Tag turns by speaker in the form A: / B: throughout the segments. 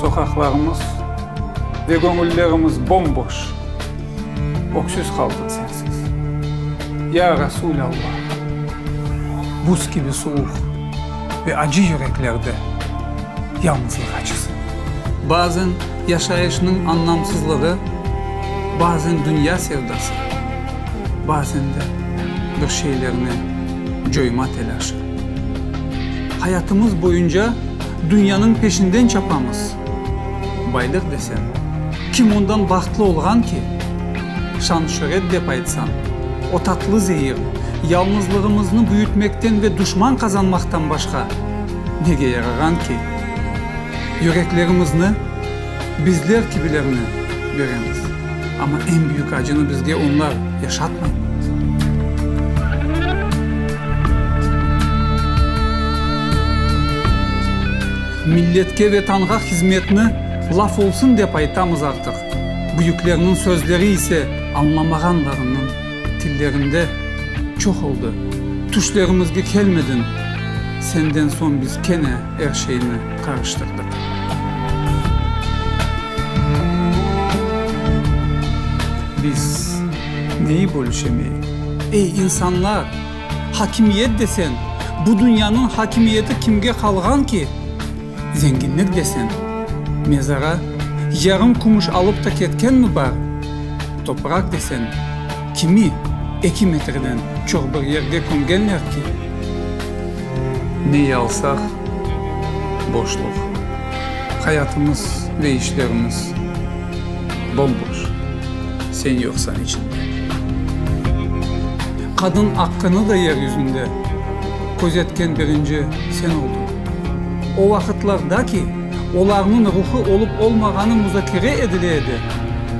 A: Soqaqlarımız ve göñüllerimiz bom-boş, öksüz qaldıq sensiz. Ya Resul Alla, buz kibi suvuq ve acı yüreklerde yalnızlıq acısı. Bazen. Yaşayışnıñ anlamsızlığı bazen dünya sevdası, bazen de bir şeylerni coyma telâşı. Hayatımız boyunca dünyanıñ peşinden çapamız. Baylıq desen, kim ondan bahtlı olğan ki? Şan-şöret dep aytsan, o tatlı zehir, yalnızlığımıznı büyütmekten ve duşman qazanmaqtan başqa nege yarağan ki? Yüreklerimizni bizler kibilerine beremiz, amma eñ büyük acını bizge onlar yaşatmay. Milletke, Vetanğa hizmetni laf olsun dep aytamız artıq, büyüklerniñ sözleri ise añlamağanlarınıñ tillerinde çoq oldı, tüşlerimizge kelmediñ, senden soñ biz kene. Er şeyni qarıştırdıq. Biz neyi bölüşemeyik? Ey, insanlar! Hakimiyet desen, bu dünyanıñ hakimiyeti kimge qalğan ki? Zenginlik desen, mezara yarım kümüş alıp ta ketkenmi bar? Toprak desen. Kimi eki metreden çoq bir yerde kömgenler ki. Neyi alsaq, boşluq. Hayatımız ve işlerimiz bomboş, sen yoqsan içinde. Qadın aqqını da yer yüzünde közetken birinci sen oldın. O vaqıtlarda ki, olarnıñ ruhı olıp-olmağanı muzakere edile edi,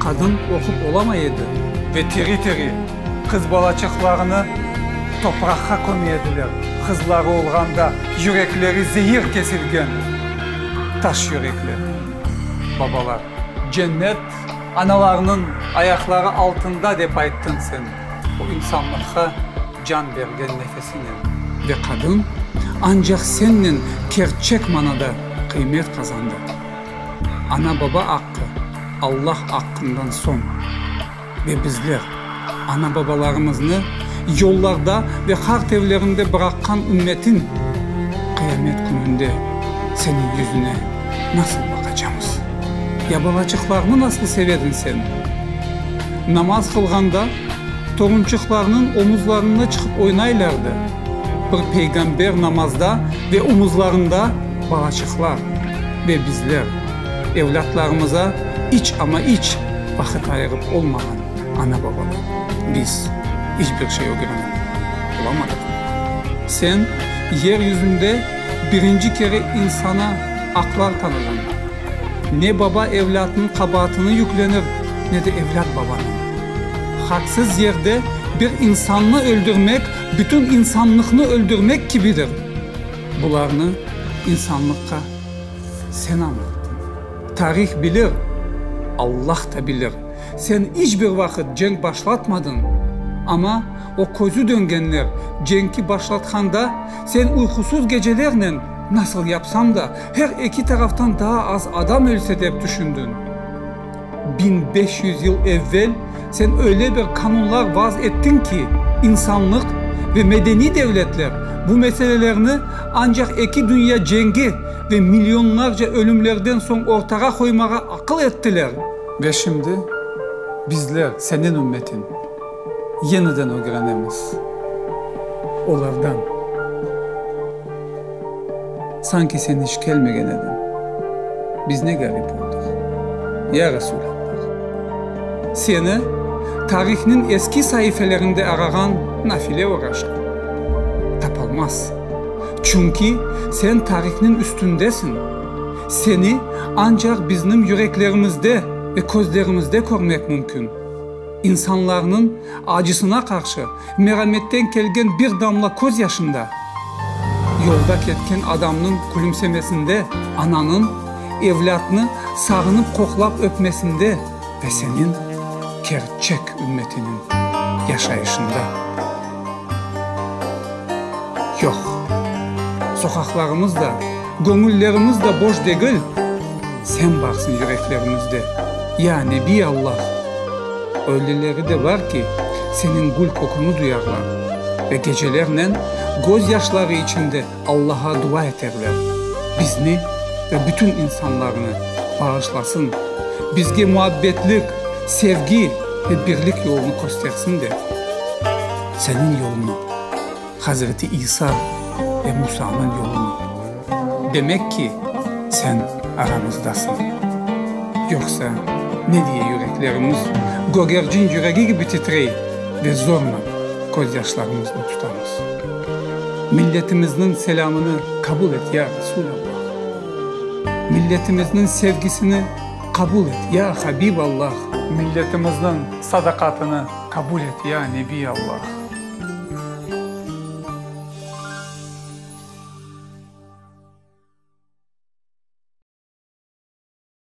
A: qadın oqup olamay edi. Ve tiri-tiri qız balaçıqlarını topraqqa köme ediler, qızları olğanda yürekleri zehir kesilgen taş yürekli babalar. Cennet analarnıñ ayaqları altında dep ayttın sen bu insanlıqqa. can bergen nefesinen. Ve qadın ancaq sennen kerçek manada qıymet qazandı. Ana-baba aqqı Allah aqqından soñ. Ve bizler, ana-babalarımıznı yollarda ve qart evlerinde bıraqqan ümmetin, qıyamet kününde seniñ yüzüne nasıl baqacamız? Ya balaçıqlarnı nasıl sevedin sen? Namaz qılğanda. Torunçıqlarnıñ omuzlarında çıqıp oynaylardı. Bir peyğamber namazda ve omuzlarında balaçıqlar. Ve bizler, evlâtlarımıza iç, amma iç vaqıt ayırıp olmağan ana-babalar, biz iç bir şey ögrenip olamadıq. Sen yer yüzünde birinci kere insana aqlar tanıdın. Ne baba evlâtnıñ qabaatını yüklenir, ne de evlât babanıñ. Haqsız yerde bir insannı öldürmek bütün insanlıqnı öldürmek kibidir. Bularnı insanlıqqa sen añlattın. Tarih bilir, Allah da bilir, sen iç bir vaqıt cenk başlatmadın. Amma o közü döngenler cenki başlatqanda, sen uyqusuz gecelernen nasıl yapsañ da Her eki taraftan daa az adam ölse dep tüşündin. Biñ beş yüz yıl evvel sen öyle bir qanunlar vaz ettiñ ki, insanlıq ve medeniy devletler bu meselelerni ancaq eki dünya cengi ve milyonlarca ölümlerden soñ ortağa qoymağa aqıl ettiler. Ve şimdi bizler, seniñ ümmetiñ, yeniden ögrenemiz olardan. Sanki sen iç kelmegen ediñ. Biz ne garip oldıq, ya Resulallah! Seni tarihniñ eski saifelerinde arağan nafile oraşıp, tapalmaz. Çünki sen tarihniñ üstündesiñ, seni ancaq bizniñ yüreklerimizde ve közlerimizde körmek mümkün. İnsanlarnıñ acısına qarşı merametten kelgen bir damla köz yaşında, yolda ketken adamnıñ külümsemesinde, ananıñ evlâtnı sağınıp qoqlap öpmesinde ve senin kerçek ümmetiniñ yaşayışında. yoq. Soqaqlarımız da, göñüllerimiz da boş degil, Sen barsıñ yüreklerimizde, ya Nebiy Allah! Ölüleri de bar ki, Seniñ gül köküñi duyarlar ve gecelernen gözyaşları içinde Allağa dua eterler, bizni ve bütün insanlarnı bağışlasın, bizge muabbetlik, sevgi ve birlik yolunı köstersin de, Seniñ yolunı, Hazreti İsa ve Musanıñ yolunı. Demek ki, Sen aramızdasıñ. Yoqsa ne diye yüreklerimiz gögercin yüregi kibi titrey ve zorla közyaşlarımıznı tutamız? Milletimizniñ selâmını qabul et, ya Resûlallah! Milletimizniñ sevgisini qabul et, ya Habiballah! Milletimizniñ sadaqatını qabul et, ya Nebiyallah!